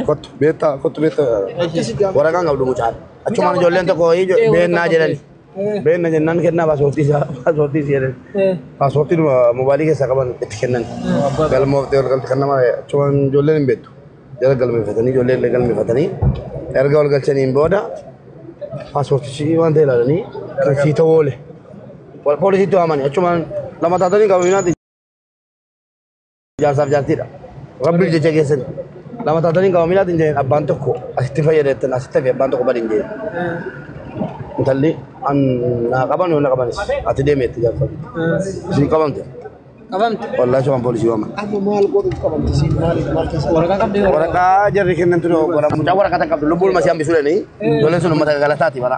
Kottu beektaa kottu beektaa waraqaan qabdu mucaan. Achumaan ijoolleen tokko beennaa jedhani. Beenna jennaan kennaa paaspoortii isaa paaspoortii si jedhan. Paaspoortii dhuma mobaayilii keessaa qaban itti kennan. Galmooftee ol galti kan nama achumaan ijoolleen hin beektu. Jala galmeeffatanii ijoollee illee galmeeffatanii erga ol galchaniin booda paaspoortichi waan ta'e ilaalanii kan sii ta'u oole. Poolisiitti waamani achumaan lama taatanii qabamii naati. Jaarsaaf jaartiidha. Rabbiif jecha geessan. Lama taatanii gama miilaatiin jedheen abbaan tokko asitti fayyadametti asitti hafe abbaan tokko badiin jedheen. Intalli an naa qaban yoo na qabanis ati deemeetti jaarsa. Isin qabamte. Qabamte. Wallaahi waan poolisii waaman. Amma maal godhuuf qabamte siin maaliif maal keessa? Waraqaa qabdee waraqaa. Waraqaa jarri kennan ture obbola. Mucaa waraqaa tan qabdu lubbuun masii hambisuu danii. Ijoolleen sun uummata galataati bara.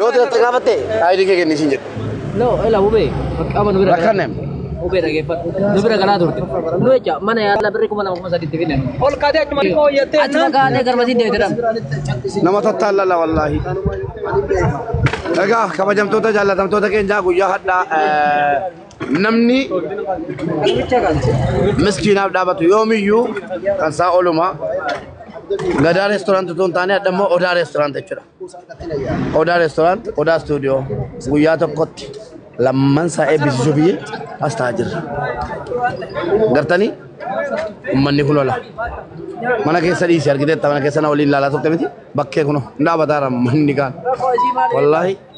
Yoo ta'e gaafatte ayidii kee kennisiin jedhe. No, ela ube. Qaama nu bira. Rakkanne. Ube dhageeffadhu. Nu bira galaa turte. Nu jecha mana yaala birri kuma lama kuma sadiitti finne. Ol kaatee achuma xiqqoo hojjattee. Achuma kaatee garmatii deemte dhan. Nama tattaallala wallaahi. Egaa kabajamtoota jaallatamtoota keenyaa guyyaa hadhaa namni miskiinaaf dhaabatu yoomiyyuu kan isaa ooluma. Gadaa reestoraantii osoo hin taane hadha immoo odaa reestoraantii jechuudha. Odaa Restaurant, Odaa Studio guyyaa tokkotti lamman isaa eebbisiisuuf as taa'aa jirra. Gartanii ummanni kun ola. Mana keessa dhiisi argiteetta mana keessa na waliin ilaalaa turte miti bakkee kun hin dhaabataa manni kaan. Wallaahi.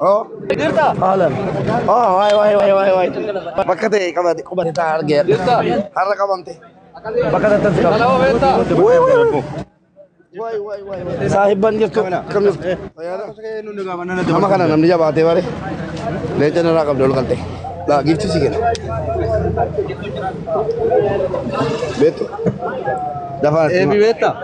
Oh. Haalan. Oh, waay waay waay waay waay. Bakka ta'e qabate qubate taa argeera. Har'a qabamte. Bakka ta'e tas qabate. Waay waay waay. Waay waay waay waay. Saahibban jirtu kam jirtu? Nama kana namni jabaatee bare. Leenca narraa qabde ol galte. Laa giifti si kenna. Beektu. Dafaa. Eebi beektaa?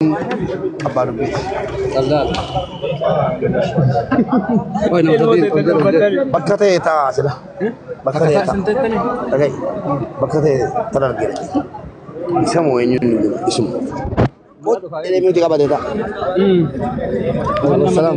Abbaa dubbiiti. Bakka ta'e ta'a sila. Bakka ta'e ta'a. Dhagahi. Bakka ta'e tan argina. Isa moo eenyuun hin jiru isuma. Kooti deemee qabate ta'a. Salaam.